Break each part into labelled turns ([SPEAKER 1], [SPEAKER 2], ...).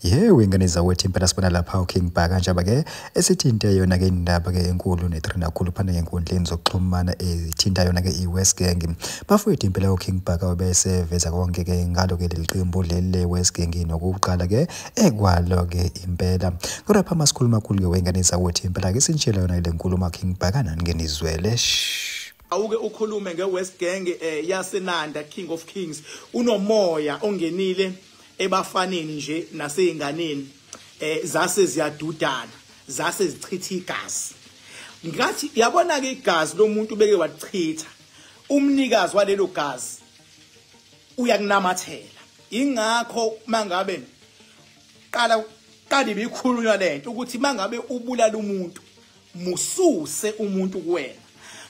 [SPEAKER 1] Yewe ngane zawethu impela sibona lapha uKing Bhaka kanjaba ke esithinte yona ke indaba ke enkulu netrend kakhulu phana ngenkundleni zokuxhumana ethinta yona ke iWest Gang. Bafowethu impela uKing Bhaka wabese veza konke ke ngalo ke leliqembu leli leWest Gang nokuqala ke ekwalo ke impela. Kodwa pha masikhuluma kakhulu ke wengane zawethu impela ke sinitshela yona le nkulumo King Bhaka nani ke nizwele. Shh. awuke
[SPEAKER 2] ukhulume ngewest gang eh, yasenanda king of kings unomoya ongenile ebafaneni nje naseyinganeni eh, zase ziyadudana zase zichitha igazi ngathi yabona ke igazi lomuntu beke wachitha umnikazi walelo gazi uyakunamathela ingakho mangabe qala qali bikhulunywa lento ukuthi mangabe ubulala umuntu mususe umuntu kuwena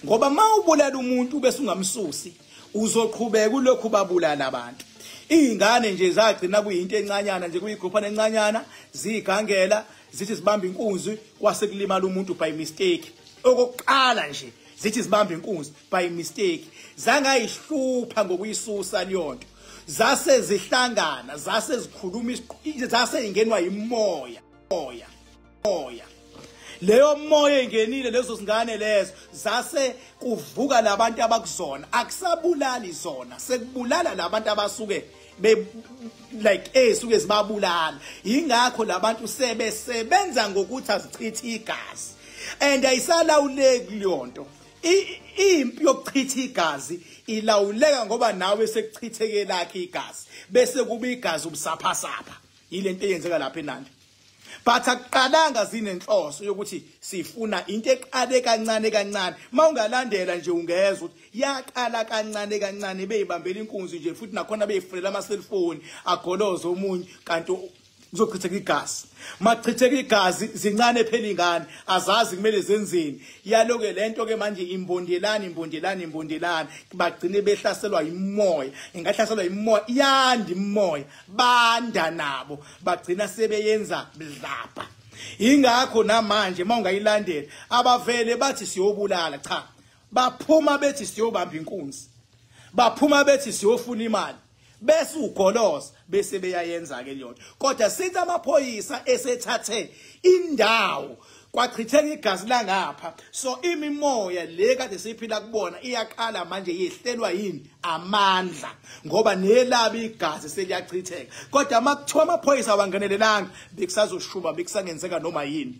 [SPEAKER 2] ngoba uma ubulala umuntu bese ungamsusi uzoqhubeka ulokhu babulala abantu iy'ngane nje zagcina kuyinto encanyana nje kuyigruphana encanyana ziyigangela zithi zibamba inkunzi kwase kulimala umuntu by mistake okokuqala nje zithi zibamba inkunzi by mistake zangayihlupha ngokuyisusa leyonto zase zihlangana zase zikhuluma zase ingenwa yimoya moya moya leyo moya engenile lezo zingane lezo zase kuvuka labantu abakuzona akusabulali zona sekubulala labantu abasuke be like esuke zibabulala ingakho labantu sebesebenza ngokuthi azichithe igazi and ayisalawuleki leyonto impi yokuchitha igazi ilawuleka ngoba nawe sekuchitheke lakhe igazi bese kuba igazi ubusaphasapha yilento eyenzeka lapha eNandi but akuqalanga sinenhloso yokuthi sifuna into eqale kancane kancane mawungalandela nje ungezwa ukuthi yaqala kancane kancane beyibambela inkunzi nje futhi nakhona beyifunela ama cellphone agoloza omunye kanti kuzochitheka igazi machitheka igazi zincane phela ingane azazi kumele zenzeni yaloke lento ke manje imbondelani imbondelani imbondelani bagcine behlaselwa imoya ingahlaselwa imoya yandi imoya banda nabo bagcina sebeyenza mdlabha ingakho namanje uma ungayilandela abavele bathi siyobulala cha baphuma bethi siyobamba inkunzi baphuma bethi siyofuna imali bese ugoloza bese beyayenza ke leyonto kodwa sithi amaphoyisa esethathe indawo kwachitheka igazi langapha so imimoya le kade siphila kubona iyaqala manje yehlelwa yini amandla ngoba nelabi igazi seliyachitheka kodwa makuthiwa amaphoyisa awangenelelanga bekusazoshuba bekusangenzeka noma yini